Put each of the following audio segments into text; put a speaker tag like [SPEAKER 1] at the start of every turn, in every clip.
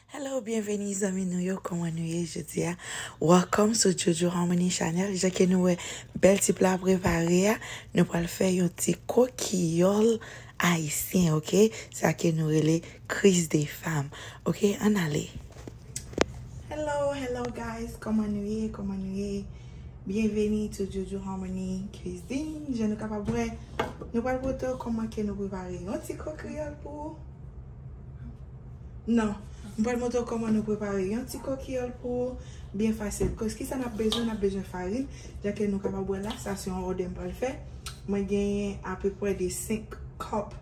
[SPEAKER 1] Hello, byenveni zanmi nou yo, kòman nou ye jodi a? Welcome sou Jojo Harmony Channel. Jan ke nou wè bèl ti pla prepare a, nou pral fè yon ti kokiyòl ayisyen, ok? Sa ke nou rele kriz de fam, ok? An ale! Hello, hello guys, kòman nou ye, kòman nou ye? Byenveni sou Jojo Harmony Cuisine. Jan nou kapab wè, nou pral pote w kòman ke nou prepare yon ti kokiyòl pou ou. Nan, m pral montre w kòman nou prepare yon ti kokiyòl pou ou, byen fasil. Kòs ki sa n ap bezwen? N ap bezwen farin, jan ke nou kapab wè la, sa se yon òdè m pral fè. Mwen genyen apepwè de 5 kòp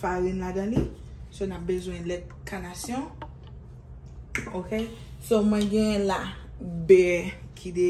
[SPEAKER 1] farin ladan li. So, n ap bezwen lèt kanasyon. Ok, so mwen genyen la bè ki de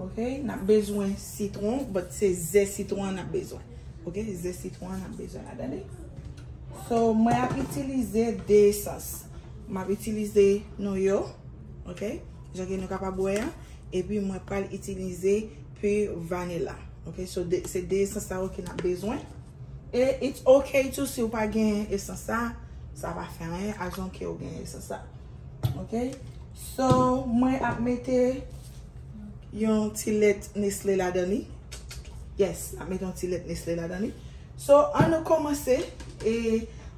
[SPEAKER 1] Ok nap bezwen sitron but se ze sitron an nap bezwen. Ok ze sitron an nap bezwen la dani. So mwen ap itilize 2 esans. Map itilize nou yo. Ok jan ke nou kapab wè an. E pi mwen pral itilize pu vanila. Ok so se 2 esans sa yo ke nap bezwen. E it's ok tou si ou pa gen esans sa. Sa pa fè anyen as long ke ou gen esans sa. Ok. So mwen ap mete yon ti lèt nesle ladan li. Yes, ap mete yon ti lèt nesle ladan li. So an nou komanse. E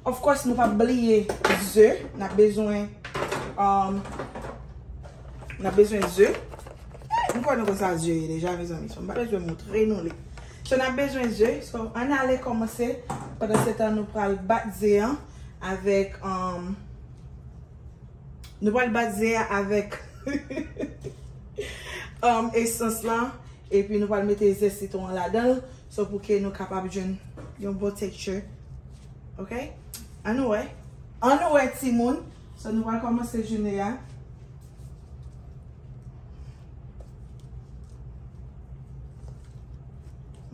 [SPEAKER 1] of course nou pap bliye ze. Nap bezwen um, nap bezwen ze. M kwè nou konn sa ze ye deja mezanmi. So m pa bezwen montre nou li. So nap bezwen ze. So an ale komanse. Pandan se tan nou pral bat ze an avèk um. Nou pral bat ze a avèk esans la. Epi nou pral mete ze sitwon an ladan l. Sò pou ke nou kapab jwenn yon bon tekti. Ok? An nou wè. An nou wè ti moun. Sò nou pral kòmanse jounen an.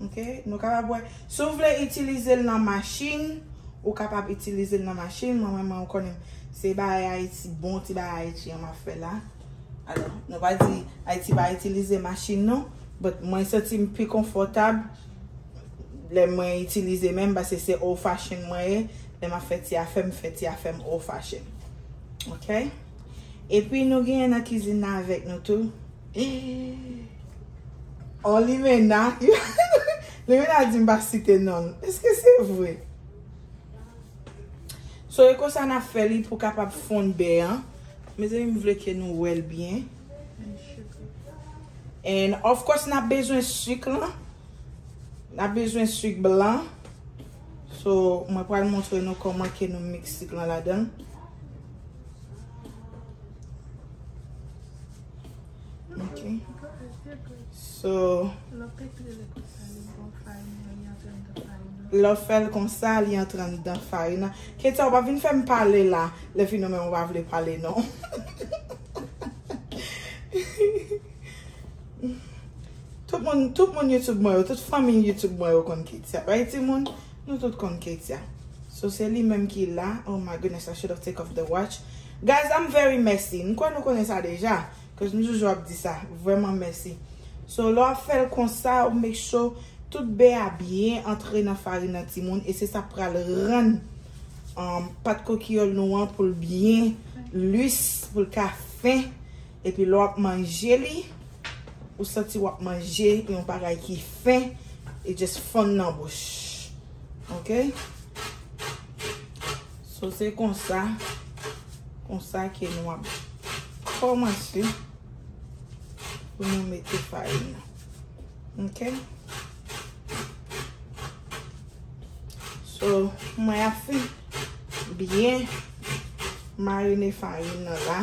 [SPEAKER 1] Ok, nou kapab wè. Si w vle itilize l nan machin, ou kapab itilize l nan machin. Mwen menm mwen konnen se bagay Ayiti, bon ti bagay Ayiti an m ap fè la. Alò, nou pa di Ayiti pa itilize machin non. But mwen santi m pi konfòtab lè mwen itilize menm pase se old fashion mwen ye. Lè m ap fè ti afè m, m fè ti afè m old fashion. Ok. Epi nou genyen nan kizin nan avèk nou tou. On limena. Limena di m pa site non l. Eske se vre? So e konsa n ap fè li pou kapab fonn bè an. Mezanmi m vle ke nou wè l byen. And of course n ap bezwen suk lan. N ap bezwen suk blan. So mwen pral montre nou koman ke nou mix sik lan ladan. Ok. So. Lè w fèl konsa li antre anndan farin nan. Ketya ou pa vin fè m pale la. Lè fini w menm ou pa vle pale non. Tout moun tout moun YouTube mwen yo tout fanmiy YouTube mwen yo konn ketya right ti moun nou tout konn ketya so se li menm ki la oh my goodness I should of take off the watch guys I'm very messy m kwè nou konnen sa deja cuz m toujou ap di sa vrèman messy so lè w ap fèl konsa ou make sure tout bè a byen antre nan farin nan ti moun e se sa k pral rann umm pat kokiyòl nou an pou l byen lus pou l ka fen. Epi lè w ap manje li, ou santi w ap manje yon bagay ki fen, it just fonn nan bouch. Ok? So se konsa, konsa ke nou ap kòmanse pou nou mete farin nan. Ok? So, mwen ap fin byen marine farin nan la.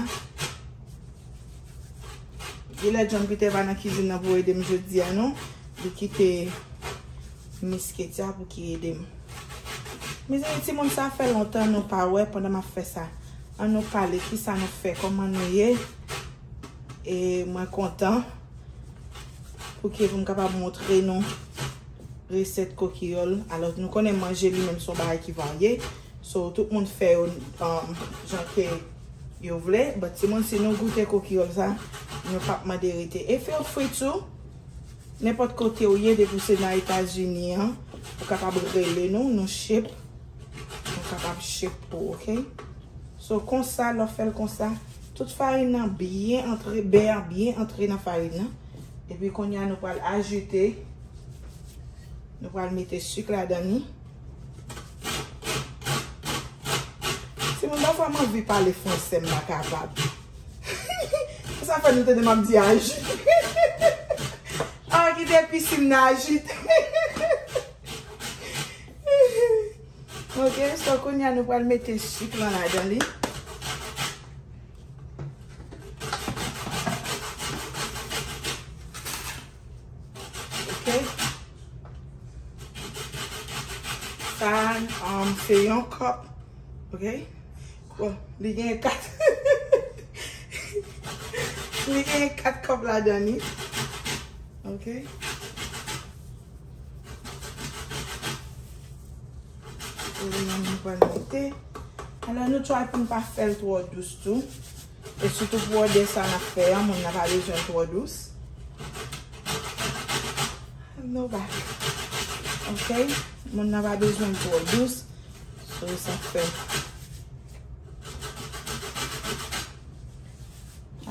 [SPEAKER 1] Gye lè John Peter pa nan kizin nan pou ede m jodi a non. Li kite Miss Ketia pou ki ede m. Mezanmi ti moun sa fè lontan nou pa wè pandan map fè sa. An nou pale ki sa nou fè koman nou ye. E mwen kontan pou ki pou m kapab montre nou. Resèt kokiyòl, alò nou konnen manje li menm son bagay ki varye, so tout moun fè yo jan ke yo vle, but timoun si nou goute kokiyòl sa, nou pap mande rete e feel free to, nenpòt kote ou ye depi ou se nan etazini an, ou kapab rele nou, nou ship, nou kapab ship pou ok, so konsa lè ou fèl konsa, tout farin nan byen antre, bè a byen antre nan farin nan. Epi kounye a nou pral ajoute, nou pral mete suk ladan li. Ti moun pafwa m anvi pale franse m pa kapab. Pou sa fè nou tande m ap di ajoute. Aah ki te pisi m nan ajoute. Ok, so kounye a nou pral mete suk lan ladan li. Ok Sa um, se yon kòp Ok Bon, li gen 4 Li gen 4 kòp ladan li Ok Oregano nou pral mete. Alò nou try pou nou pa fè l twò dous tou. E sitou pou òdè sa nap fè an, moun nan pa bezwen l twò dous. Nou va. Ok, moun nan pa bezwen l twò dous. So sa fè.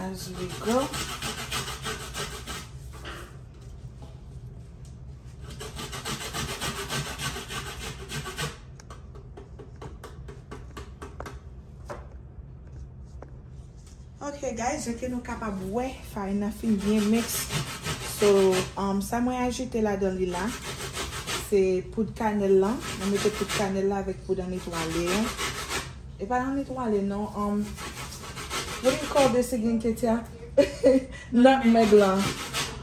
[SPEAKER 1] As we go. Ok guys, jan ke nou kapab wè, farin nan fin byen miks. So, um, sa mwen ajoute la dan li la, se poud kanel lan. Mwen mete poud kanel la avèk poud an etwale. E pa an etwale non, um, what do you call this again Ketya? Nutmeg lan.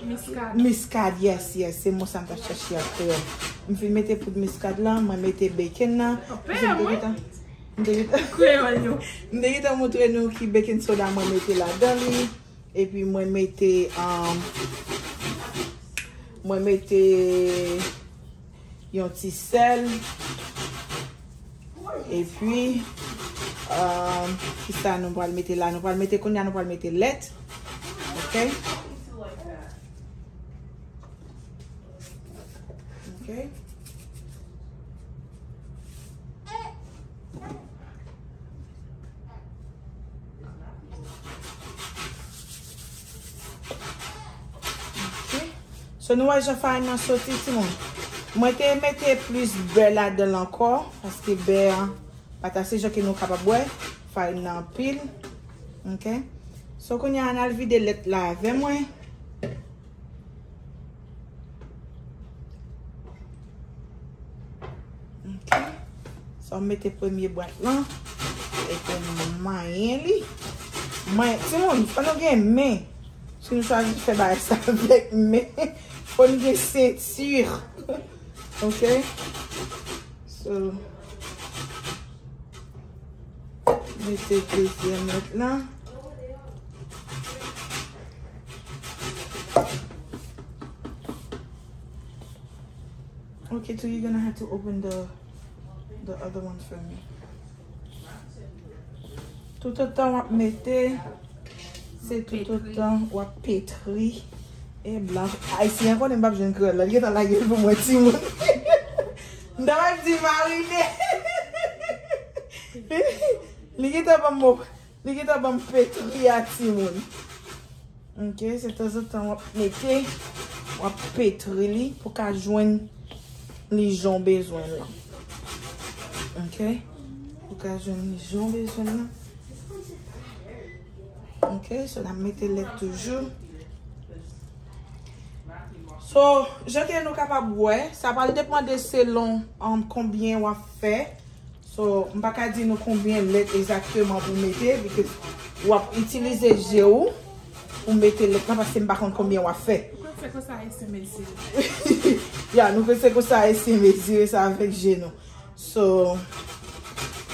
[SPEAKER 1] Miskad. Miskad yes yes se mo sa m tap chache a kreyol. M fin mete poud miskad lan, mwen mete bacon nan. Ou pè a mwen. M te gentan. Kreyol yo. M te gentan montre nou ki bacon soda mwen mete ladan li. Epi mwen mete. Mwen mete. Yon ti sèl. E pi. Ki sa nou pral mete la? Nou pral mete koun ya nou pral mete lèt. Ok. Ok. So nou wè jan farin nan soti ti moun. Mwen te mete plis bè ladan l ankò. Paske bè an pat ase jan ke nou kapab wè. Farin nan anpil. Ok. So kounye a an al vide lèt la avè mwen. Ok. Sa m mete premye bwat lan. E pou m manyen li. Manyen. Ti moun, fò nou gen men. Si nou chwazi fè bagay sa avèk men. Fò nou gen sentir. Ok. So. Mete dezyèm lòt lan. Okay tou you gonna have to open the the other one for me Tout an tan wap mete Se tout an tan wap petri E bla Ay si an konen bab jen kre la Liye tan la gil pou mwen ti moun Mdawaj di marine Liye tan pa mou Li gentan banm fetri a timoun. Ok se tanzantan wap mete wap petri li pou ka jwenn li jan w bezwen l lan. Ok pou ka jwenn li jan w bezwen l lan. Ok so nap mete lèt toujou. So jan ke nou kapab wè sa pral depande selon konbyen wap fè. So, m pa ka di nou konbyen lèt egzakteman pou mete because w ap itilize je ou pou mete lèt la paske m pa konn konbyen w ap fè. Nou konn fè kon sa ayisyen
[SPEAKER 2] mezire. Ya, nou konn
[SPEAKER 1] fè kon sa ayisyen mezire sa avèk je nou. So,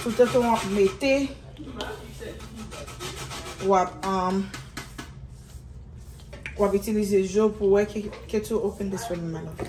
[SPEAKER 1] toutotan w ap mete, w ap, um, w ap itilize je ou pou wè, can you open this for me my love?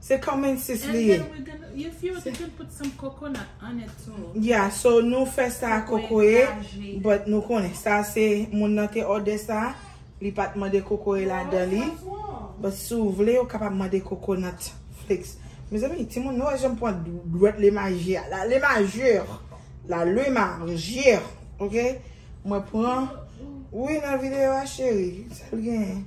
[SPEAKER 1] Se kamensis li ye. And then we gonna, you
[SPEAKER 2] feel you can put some coconut on it too. Yeah, so nou fè
[SPEAKER 1] sa ak kokoye, but nou konnen sa se moun nan te òdè sa, li pat mande kokoye ladan li. But si w vle, ou kapab mande coconut flakes. Mezanmi, timoun nou wè jan m pran dwèt le maji a la. Le majeur la, le majeur, ok? Mwen pran, ou nan videyo a cheri, sa l genyen?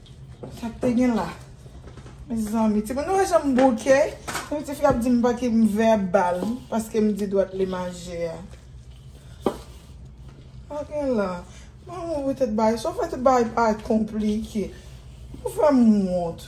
[SPEAKER 1] Sak te gen la. Mezanmi timoun nou wè janm bouke. Yon tifi ap dim pa ki m vèbal paske m di dwat li maje a. Sak gen la. Mwen wè ou tèt bagay. Sou fè tout bagay pa konplike. Ou fè m wont.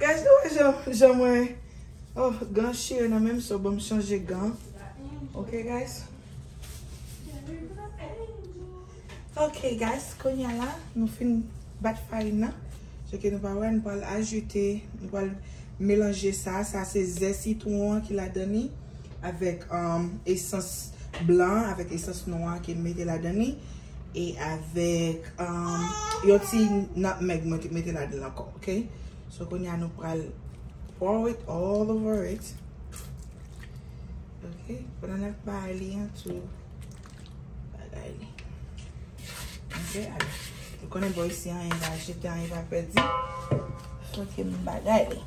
[SPEAKER 1] Guys nou wè jan jan mwen oh gan chire nan menm so banm chanje gan ok guys ok guys kounya la nou fin bat farin nan se ke nou pa wè nou pral ajoute nou pral melanje sa sa se ze sitwon an ki ladan li avèk esans blan an avèk esans nwa an kem mete ladan li e avèk yon ti natmeg mwen te mete ladan l ankò. Ok so kounye a nou pral pour it all over it ok pandan nap bay li an tou bagay li ok alò nou konnen bò isi anyen pa jete anyen pa pèdi so ke m bagay li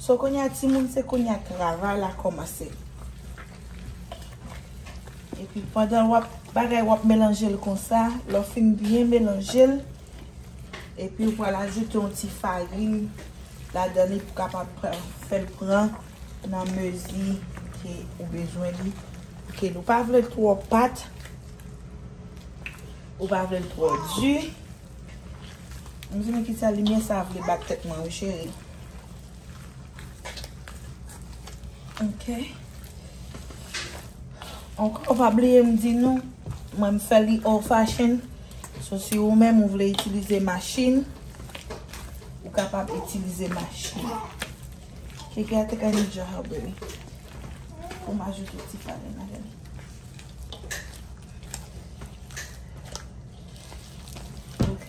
[SPEAKER 1] so kounye a ti moun se kounye a travay la kòmanse epi pandan wap bagay wap melanje l konsa lè w fin byen melanje l. Epi ou pral ajoute yon ti farin ladan li pou kapab fèl pran nan mezi ke ou bezwen li. Ok nou pa vlel twò pat. Ou pa vlel twò di. Mwen se men ki sa limyè sa vle bat tèt mwen wi cheri. Ok. Ankò ou pa bliye m di nou mwen m fè li old fashion. So si ou menm ou vle itilize machin, ou kapab itilize machin. Keke a take a new job baby. Pou m ajoute ti farin la gade. Ok.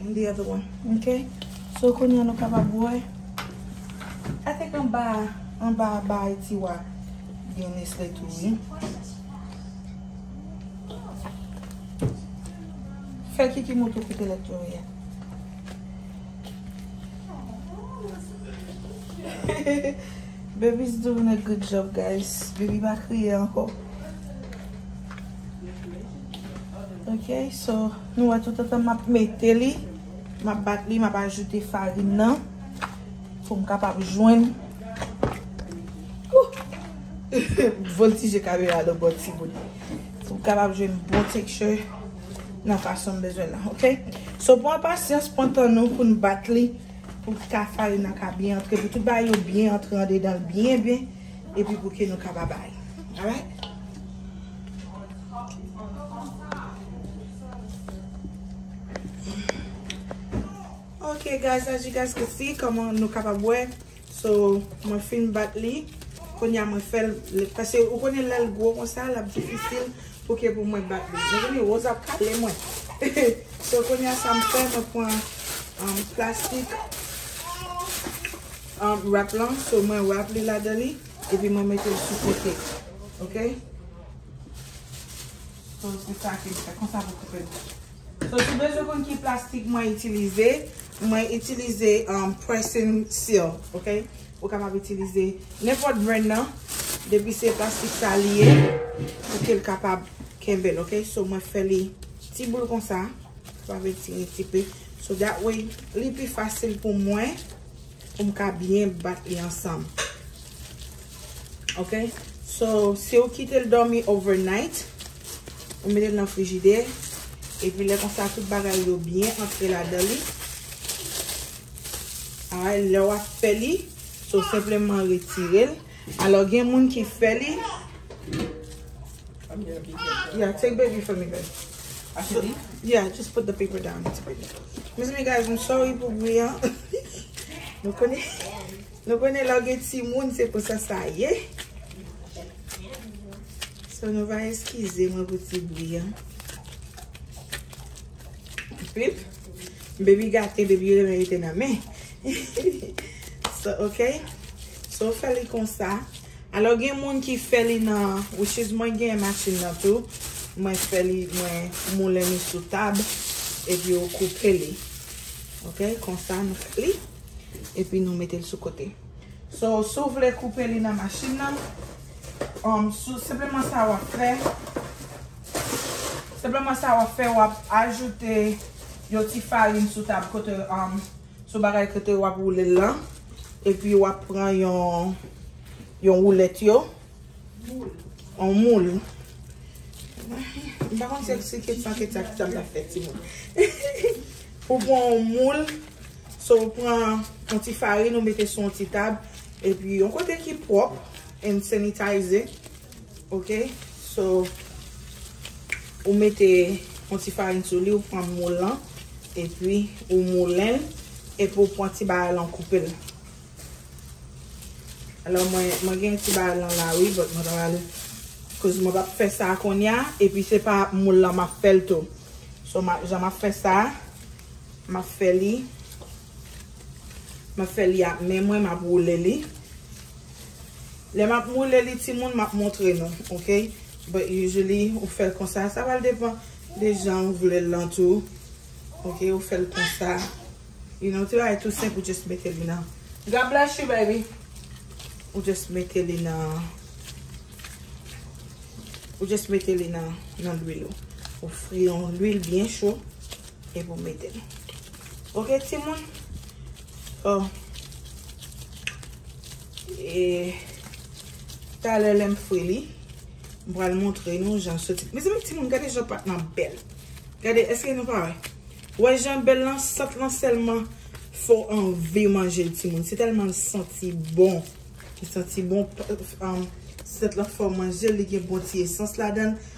[SPEAKER 1] M deyò dro ok so kounye a nou kapab wè I think anba a anba a ba a tiwa gen nesle tou wi fè kiki moto koute lèt yo ye Baby's doing a good job guys baby pa kriye anko ok so. Nou wè toutotan map mete li, map bat li, map ajoute farin nan pou m kapab jwenn m voltije kamera nan bò timoun pou m kapab jwenn bon tekstè nan fason m bezwen nan ok. So pran pasyans, pran tan nou pou nou bat li pou ka farin nan ka byen antre, pou tout bagay yo byen antre andedan l byen byen epi pou ke nou kapab bay. Alright. Ok guys as you guys can see kòman nou kapab wè so mwen fin bat li kounye a mwen fèl pase ou konnen lèl gwo konsa lap difisil pou ke pou mwen bat li mezanmi Rose ap kale mwen so kounye a sa m fè mwen pran um, plastik um, wrap lan so mwen wrap li ladan li epi mwen mete l sou kote ok So se sa ke m fè. Konsa pou koupe l. So si w bezwen konn ki plastik mwen itilize, mwen itilize pressing seal. Ok. Ou kapab itilize nenpòt brand nan. Depi se plastik sa li ye, pou ke l kapab kenbe l. Ok. So mwen fè li ti boul konsa. Sa vle di ti pi. So that way li pi fasil pou mwen. Pou m ka byen bat li ansanm. Ok. So, si ou kite l dòmi overnight, ou mete l nan frijide, epi lè konsa tout bagay yo byen antre ladan li. Alright. Lè w ap fè li, so senpleman retire l. Alò gen moun ki fè li. Yeah, take baby for me guys. Yeah, just put the paper down. Mezanmi guys, I'm sorry pou bri an. Nou konnen, nou konnen lò gen ti moun se pou sa sa ye. So nou va eskize mwen pou ti bri an. Pip. Baby gate baby renmen rete nan men So ok So ou fè li konsa Alò gen moun ki fè li nan Which is mwen gen machin nan tou Mwen fè li mwen moulen li sou tab Epi ou koupe li Ok konsa nou fè li Epi nou mete l sou kote So sou vle koupe li nan machin nan Sou sepleman sa wap fè, sepleman sa wap fè wap ajoute yon ti farin sou tab kote, sou bagay kote wap woule l lan. E pi wap pran yon, yon woulèt yo. Yon moul. M pa konn si se ketch pa ketch sa ki sa m tap fè timoun. Ou pran yon moul. So ou pran yon ti farin ou mete sou yon ti tab epi yon kote ki pwòp and sanitize ok so ou mete yon ti farin sou li ou pran moul lan epi ou moulenl epi ou pran ti bagay lan ou koupel alò mwen mwen gen ti bagay lan la wi but mwen ta pral koz mwen pap fè sa kounye a epi se pa moul lan map fèl tou so jan map fè sa. Map fè li. Map fè li ak men mwen map woule li. Lè map woule li timoun map montre nou ok. But usually ou fèl konsa. Sa pral depan de jan ou vlel lan tou. Ok ou fèl konsa. You know ti bagay tou senp ou just mete li nan. God bless you baby. Ou just mete li nan. Ou just mete li nan lwil ou. Ou fri yon lwil byen cho. Epi ou mete l. Ok timoun. Oh. E talè lè m fri li. M pral montre nou jan soti. Mezanmi timoun gade jan pat lan bèl. Gade eske nou pa wè. Wè jan bèl lan sant lan sèlman fè w anvi manje l timoun. Se tèlman l santi bon. Li santi bon. Sant lan fè w manje l. Li gen bon ti esans ladan l.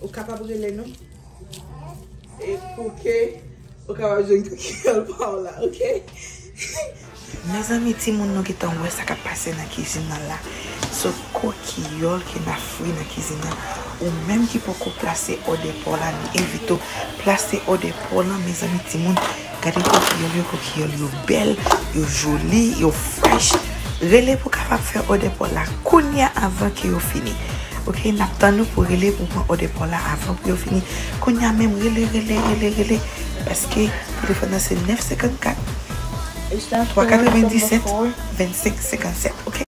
[SPEAKER 1] Ou kapab rele nou. E pou ke ou kapab jwenn kikèl pa w la ok. Mezanmi timoun nou gentan wè sa kap pase nan kizin nan la se kokiyòl ke nap fri nan kizin nan ou menm ki poko plase òdè paw la nou envite w plase òdè paw lan mezanmi timoun. Gade kokiyòl yo, kokiyòl yo bèl, yo joli, yo fresh. Rele pou kapab fè òdè paw la kounya avan ke yo fini. Ok, nap tann ou pou rele pou pran òdè paw la avan pou yo fini. Kounya menm rele, rele, rele, rele. Paske telefòn nan se 9 54 3 97 25 57 ok.